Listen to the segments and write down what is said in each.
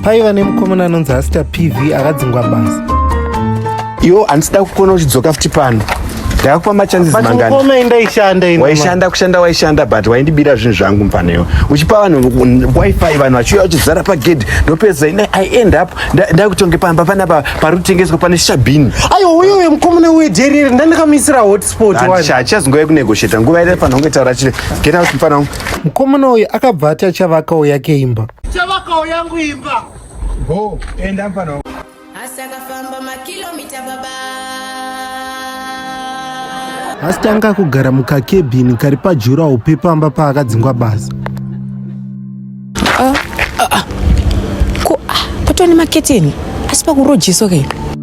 paiva nemukomana anonzi asita pv akadzingwa basa iwo handisida kukuona uchidzoka futi pano ndakakupa machances manganiwaishanda kushanda waishanda but waindibira zvinhu zvangu mfanewo uchipa vanhu wifi vanhu vachiuya vachizara pagedhi ndopedza ine i end up ndakutonge pamba panapa pari kutengeswa pane shabhini aiwa uyo uyo mukomana uye jerire ndandikamisira hotspot hachazongove kunegosheta nguva ire fanonge taura chii get out mfana wangu mukomana uyu akabva ati achavakawo yake imba chavakawo yangu imba go enda pano asi akafamba makilomita baba asi tanga kugara mukakebhini kari pajurawo pepamba paakadzingwa basa ah, ah, ah. ko ah, patova nemaketeni asi pakurojeso ke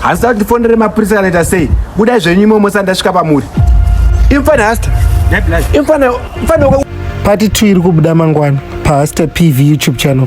handisati kuti fonere mapurisa kana ita sei budai zvenyu imwe mose andasvika pamuri imfana hasta imfana imfana pati two iri kubuda mangwana pahasta pv youtube channel